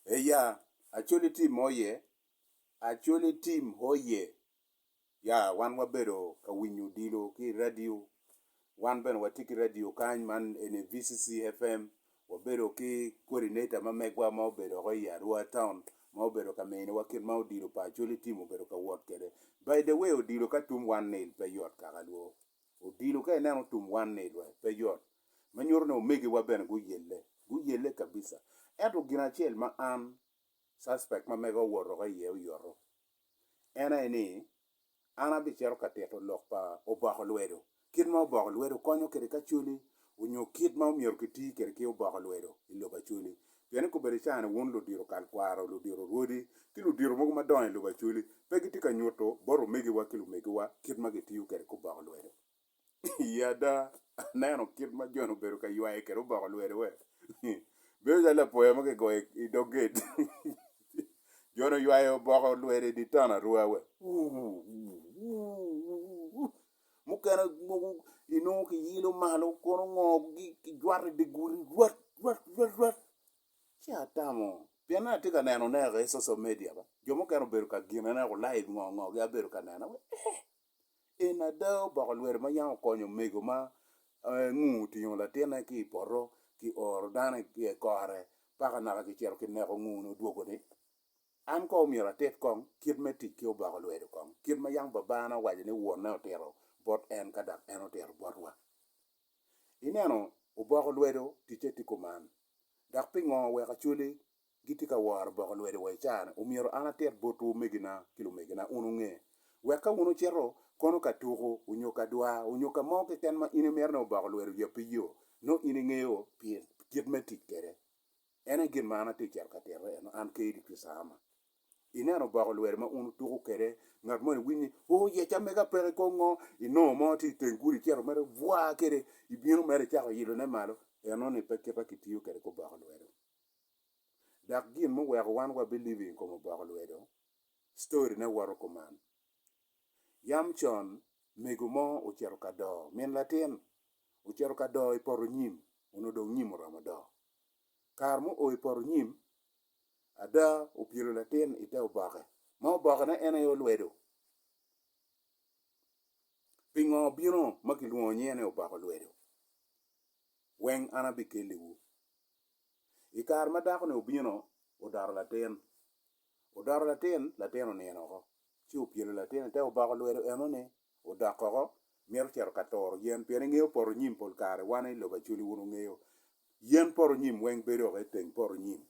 Ee ya, Acholi Tim oye! Acholi Tim oye! Ya, wan wabedo ka winyo odilo ki i radio. Wan bene watye ki radio kany, man eni VCC FM. Wabedo ki coordinator ma megwa ma obedo woko i Arua taun ma obedo ka miniwa kit ma odilo pa Acholi Tim obedo ka wot kwede. By the way, odilo ka tum one nil pe yot kaka lwo. Odilo ka ineno tum one nil pe yot. ma nyuto ni omegiwa bene guyelle, guyelle kabisa. Ento gin acel ma an, suspect ma mega owotoga iye oyoto, en aye ni, an abicito ka tito lok pa oboko lwedo, kit ma oboko lwedo konyo kwede ki Acholi, onyo kit ma omyero kiti kwede ki oboko lwedo i lobo Acholi. Pien i kobedo ica-ni wun ludito kalkwaro, ludito rwodi, ki ludito mogo madongo i lobo Acholi, pe gitye ka nyuto bot omegiwa ki lumegiwa kit ma gitiyo kwede ki oboko lwedo. Ii ada, aneno kit ma Jon obedo ka ywaye kede oboko lwede we. Bedo calo lapoya ma kigoyo i dog gate. Jon oywayo oboko lwede i dye town arua we. Mukene mogo inongo kiyilo malo kono ngo kijwato i dye gudi rwat rwat rwat rwat. Ci atamo pien an atye ka neno ne i social media ba. Jo mukene obedo ka gine ne live ngo ngo gi abedo ka neno. En ada oboko lwere ma yam okonyo omego ma ngu otingo latinne ki i poto ki oro dano i kore paka naka kicito kineko ngu-ni odwogo ni, An kong myero atit kong kit me tic ki oboko lwedo kong, kit ma yam babana owaco ni wonne otito bot en ka dok en otito botwa. Ineno, oboko lwedo ticce tye kuman. Dok pingo wek acwali Gitye ka woro boko lwedde wa i caa-ni. Omyero an atit botwu omegina ki lumegina, wun wunge. Wek ka wun wucito, kono ka tuku, onyo ka dwa, onyo ka mo keken ma in imito ni oboko lwedde oyab pi yo, nongo in ingeyo pi kit me tic kwede. En aye gin ma an atye cito ka tito eno, an kee di Pisama. Ineno oboko lwedde ma wun wutuku kwede, ngat moni winyo ni, O, yec amega peke i kom ngo, inongo mo tye i teng gudi icito mere bwaa kwede, ibino mere icako ilone malo. Eno-ni pe kite ma kitiyo kwede ki oboko lwedde. Dok gin muweko wan wabilibing i kom oboko lwedo, storyne woto kuman, Yam con, mego mo ocito ka doo min latin. Ocito ka doo i poto nyim, onongo dong nyim oromo doo. Kare ma oo i poto nyim, ada opyelo latin i te oboke, ma obokene en aye olwedo. Pingo obino ma kilwongo nyinge ni oboko lwedo? Weng an abikelliwu. I kare ma dako-ni obino, odoto latin. Odoto latin, latin onino oko, ci opyelo latin-ni te oboko lwedo enoni, odok oko, mito cito ka turo yen, pien ingeyo poto nyim pol kare wan i lobo Acholi wun wungeyo, yen poto nyim weng bedo oko i teng poto nyim.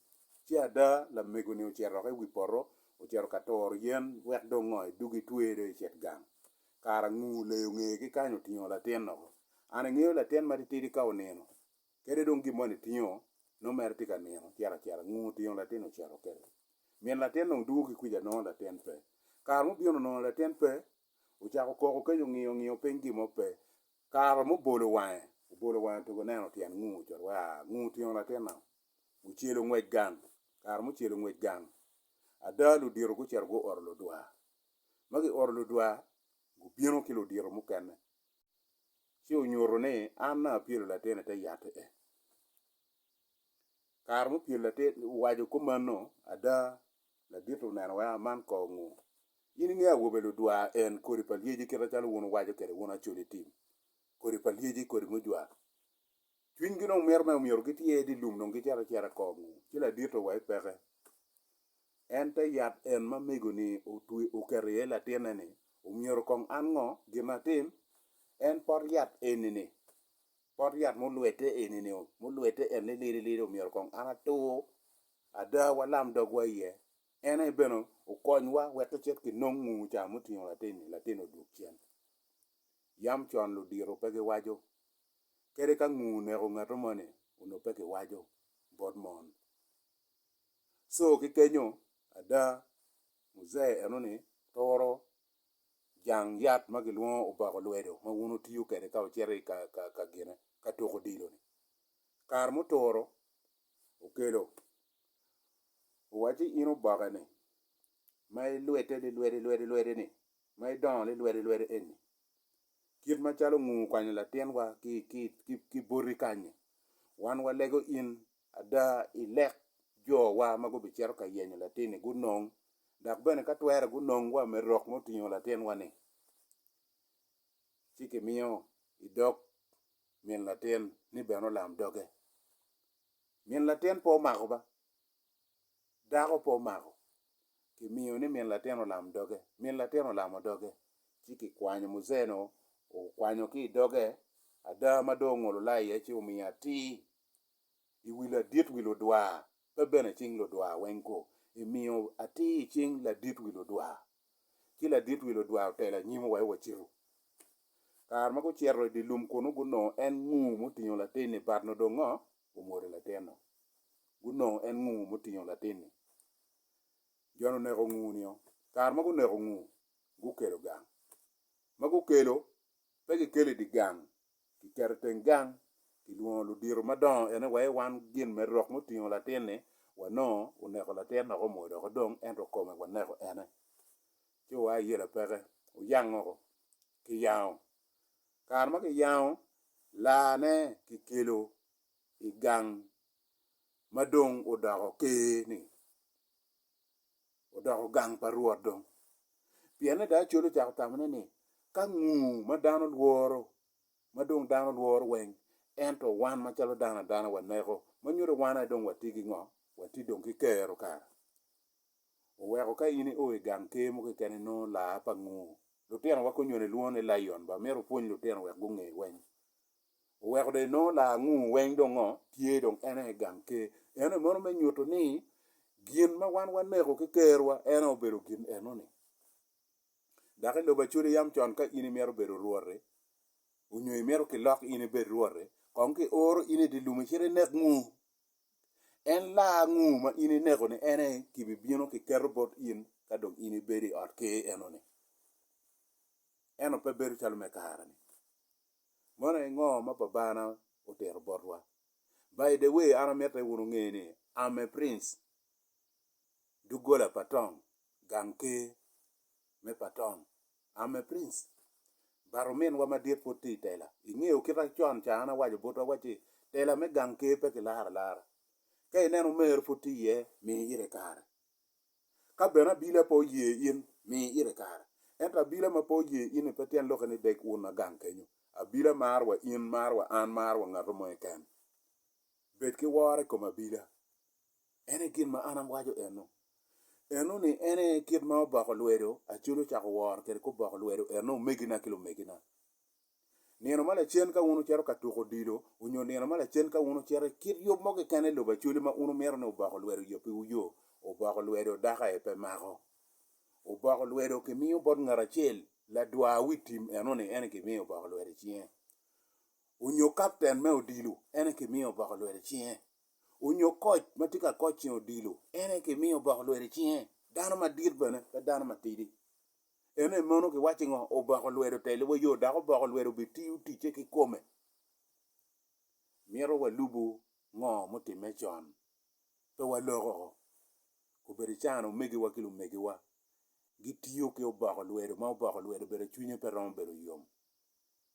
Ci ada, lamego-ni ocito oko i wi poto, ocito ka turo yen, wek dong ngo, edog etwer dong ecit gang. Kara ngu, leyo ngeye ki kany otingo latin oko. An ingeyo latin matitidi ka onino, Kadi dong gin mo nitingo, nongo mere tye ka nino, cito acita, ngung otingo latin ocito kede. Min latin dong dwogo ki kwica nongo latin pe. Kare mubino nongo latin pe, ocako koko kenyo ngiyo ngiyo piny gin mo pe. Kare mubolo wange, obolo wange tugo neno tyen ngung ocito wa, ngung otingo latin nao. Ocelo ngwec gang, kare mucelo ngwec gang, ada ludito gucito guoro ludwar. Ma gioro ludwar, gubino ki ludito mukene. ci onyuto ni an dong apyelo latin i te yat i en. Kare mupyelo latin owaco kop mano ada ladit oneno weko aman kor ngu. In inge awobe ludwa en kodi pa lyeci kita calo wun wuwaco kede wun acoli tim kodi pa lyeci kodi mujwa. Cwinygi dong mito me omyero gityer i dye lum dong gicito acita kong, ci ladito wa i peke en te yat en ma mego-ni oketo iye latinne-ni, omyero kong an ngo gin atim? En pot yat eni-ni, pot yat mulwedde eni-ni, mulwedde en lilidi lidi omyero kong an atur ada walam dogwa iye, en aye bene okonywa wek kicit kinong ngungu ca mutingo latin-ni, latin-ni odwogo cen. Yam con ludito pe giwaco Kadi ka ngu oneko ngato moni onongo pe kiwaco bot mon. Co ki kenyo ada muzee enoni turo jang yat ma gilwongo obako lwedo ma wun wutiyo kwede ka wucito i ka gine ka tuko odilo-ni. Kare muturo okelo owacci in obakeni ma ilwedde lilwedi lwedi lwedi-ni ma idongo lilwedi lwedi eni Kit macalo ongu okwanyo latinwa ki, ki, ki, ki boti kany-ni, wan walego in ada i lek jowa ma gubicito ka yenyo latin-ni gunong, dok bene ka twere gunong wa me rok ma otingo latinwa-ni, ci kimiyo i dog min latin ni bene olam doge. Min latin pe omako ba. dako pe omako, kimiyo ni min latin olam doge, min latin olamo doge ci kikwanyo muzeno okwanyo ki i doge ada ma dong ongolo laa iye ci omiyo atir i wi ladit wi ludwar pe bene i cing ludwar weng ko, emiyo atir i cing ladit wi ludwar. Ci ladit wi ludwar otelo anyim wa ci wacito. Kare ma gucito idye lum kunu gunongo en ngur mutingo latin-ni but nongo dong ngo? omwodo latinno. Gunongo en ngu mutingo latin-ni. Jon oneko ngu-nio. Kare ma guneko ngu, gukelo gang. Ma gukelo, pe gikelo i dye gang, kiketo i teng gang, kilwongo ludito madongo ene wa i wan gin me rok mutingo latin-ni, wanongo oneko latin dok omwodo oko dong ento kome waneko ene. Ci oa i yela peke, oyango oko, kiyango, Kare ma kiyango laane kikelo i gang ma dong odoko ker-ni, odoko gang pa Rwot dong. Pienne da Acoli ocako tamone ni, Ka ngu ma dano lworo, ma dong dano lworo weng, ento wan macalo dano adana waneko, ma nyuto wan aye dong watye ki ngo? Watye dong ki kero kara? oweko ka in io i gang ker mo keken inongo laa pa ngur. Lutinowa konywene lwongo ni Lion ba mito pwony lutino wek gunge weng. Oweko dong inongo laa ngur weng dong ngo tye dong en aye i gang ker. Eno mono me nyuto ni gin ma wan waneko ki kerwa en aye obedo gin eno ni. Dok i lobo Acoli yam con ka in imito bedo rwoti onyo imito kilok in ibed rwoti kong ki oro in i di lum icit inek ngur. En laa ango ma in ineko ni en aye kibibino kiketo bot in ka dong in ibedo i ot ker eno-ni? Eno pe bedo calo me kare-ni. Mono aye ngo ma Babana otito botwa? By the way, an amite wun wunge ni I'm a prince, doggola pa tong, gang ker me pa tong. I'm a prince. But ominwa madit pud tye i tela. Ingeyo kita con ca an awaco botwa wacci tela me gang ker pe kilaro alara. Ka ineno omer pud tye iye, mi ite kare. Ka bene abila pe oye in, mi ite kare. Ento abila ma pe oye in-ni pe tyen lokke ni dek un ma gang kenyo. Abila maro wa in, maro wa an, maro wa ngat mo keken. Bed ki woro i kom abila. En aye gin ma an awaco eno. Eno ni en aye kit ma oboko lwedo, Acholi ocako woro kwede kop boko lwedo eno omegina ki lumegina. Nino ma lacen ka wun wucito ka tuko odilo onyo nino ma lacen ka wun wucito i kit yub mo keken i lobo Acholi ma wun wumito ni oboko lwedo oyo piwu yo, oboko lwedo dako aye pe mako. Oboko lwedo kimiyo bot ngat acel, ladwar wi tim eno ni en aye kimiyo oboko lwedo i cinge. Onyo kapten me odilo en aye kimiyo oboko lwedo i cinge. onyo koc ma tye ka koc ceng odilo, en aye kimiyo oboko lwet i cinge, dano madit bene pe dano matidi. Ene mono kiwacci ngo? Oboko lwet otelo wa yo dok oboko lwet obitiyo ticce ki kome. Mito walubu ngo mutimme con, pe waloko obedo can omegiwa ki lumegiwa gitiyo ki oboko lwet ma oboko lwet obedo cwinye pe romo bedo yom.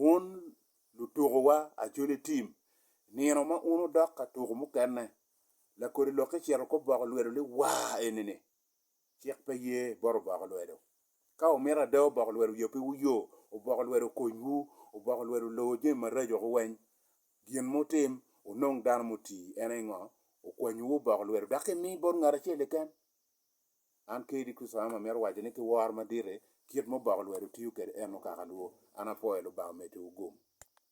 Wun lutukowa acwele tim, nino ma un wudok ka tuko mukene, lakodi lok ecito ki oboko lwedo ni waa enini, cik pe ye bot oboko lwedo. Ka wumito ada oboko lwedo yabiwu yo, oboko lwedo okonywu, oboko lwedo olowu jami maraco woko weny. Gin ma wutim, wunong dano mutii, en aye ngo? Okwanyowu oboko lwedo dok imi bot ngat acel keken? An kadi Kicwam amito waco ni ki woro madit-ti, kit ma Oboko olwero tiyo kede eno kaka luwo, an apwoyo Lubanga omedde wu gum.